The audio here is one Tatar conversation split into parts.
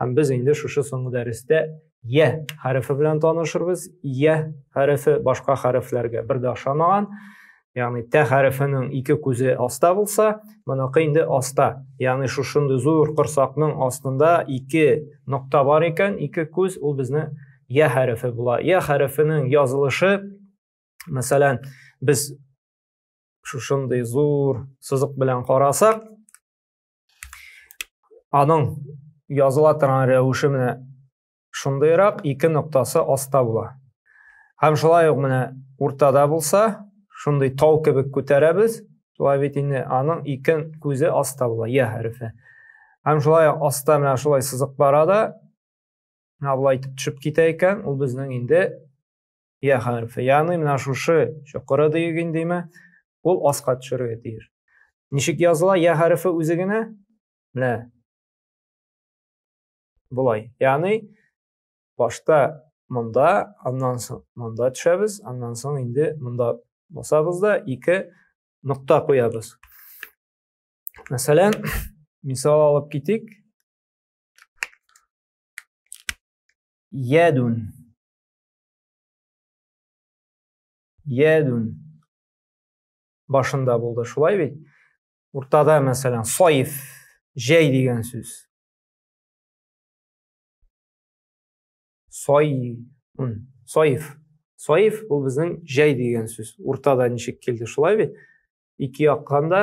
Һәм без инде шушы соңгы дәрестә я хәрефе белән танышырбыз. Я хәрефе башка хәрефләргә бер дә ошамаган. Ягъни тә хәрефенең ике күзе аста булса, моныкы инде аста. Ягъни шушындый зур корсакның астында ике нокта бар икән, ике күз ул безне я хәрефе була. Я хәрефенең язылышы, мәсәлән, без шушындый зур сызык белән карасак, Аның языла торган рәвеше менә шундыйрак, ике ноктасы аста була. Һәм шулай ук менә уртада булса, шундый тау кебек күтәрәбез, шулай бит инде аның ике күзе аста була, я хәрефе. Һәм шулай ук аста менә шулай сызык бара да, менә булай итеп төшеп китә икән, ул безнең инде Я хәрефе. Ягъни менә шушы чокыры диген димә, ул аска төшәргә тиеш. Ничек языла я хәрефе үзе генә? Менә. Болай. Ягъни башта монда, аннан соң монда төшәбез, аннан соң инде монда басабыз да ике нокта куябыз. Мәсәлән, мисал алып китик. Ядун. Ядун. Башында булды, шулай бит? Уртада, мәсәлән, саиф, җәй дигән сүз. Саифун. Саиф. Саиф ул безнең җәй дигән сүз. Уртада ничек килде, шулай бит? Ике яктан да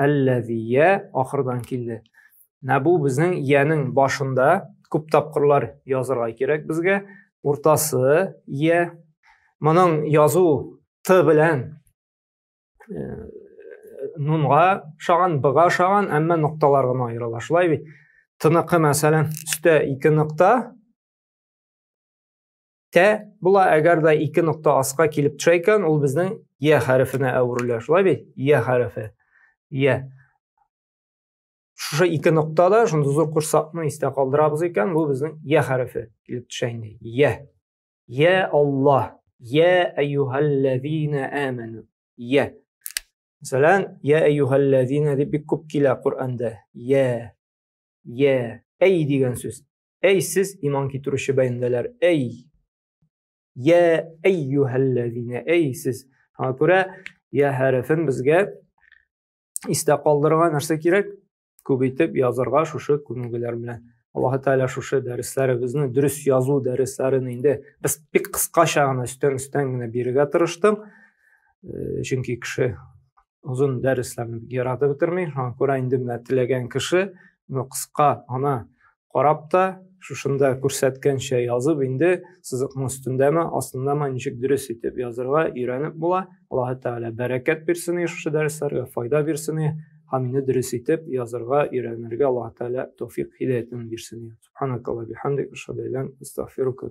әлләзия ахырдан килде менә бу безнең иянең башында күп тапкырлар язырга кирәк безгә уртасы ия моның язу т белән э, нунга ошаган бга ошаган әмма нокталар гына аерыла шулай бит тыныкы мәсәлән өстә ике нокта тә була, әгәр дә ике нокта аска килеп төшә икән, ул безнең я хәрефенә әверелә, шулай бит? Я хәрефе. Я. Шушы ике нокта да шундый зур курсакны истә калдырабыз икән, бу безнең я хәрефе килеп төшә инде. Я. Я Аллаһ. Я әйюһәлләзина әмәну. Я. Мәсәлән, я әйюһәлләзина дип бик күп килә Коръәндә. Я. Я. Әй дигән сүз. Әй сез иман китерүче бәндәләр, әй! Йә әйюһәлләзинә, әй сез! Шуңа күрә йә хәрефен безгә истә калдырырга нәрсә кирәк? Күп итеп язырга шушы күнегүләр белән. Аллаһ Тәгалә шушы дәресләребезне дөрес язу дәресләрен инде без бик кыскача гына өстән-өстән генә бирергә тырыштым. Э, чөнки кеше озын дәресләрне яратып бетерми шуңа күрә инде менә теләгән кеше моны кыска гына карап та шушында күрсәткәнчә язып инде сызыкның өстендәме астындамы ничек дөрес итеп язырга өйрәнеп була аллаһы тәгалә бәрәкәт бирсен шушы дәресләргә файда бирсен һәм мине дөрес итеп язырга өйрәнергә аллаһы тәгалә тәүфик һидәятен бирсен субханакалла бихамдик ашһаду астагфирука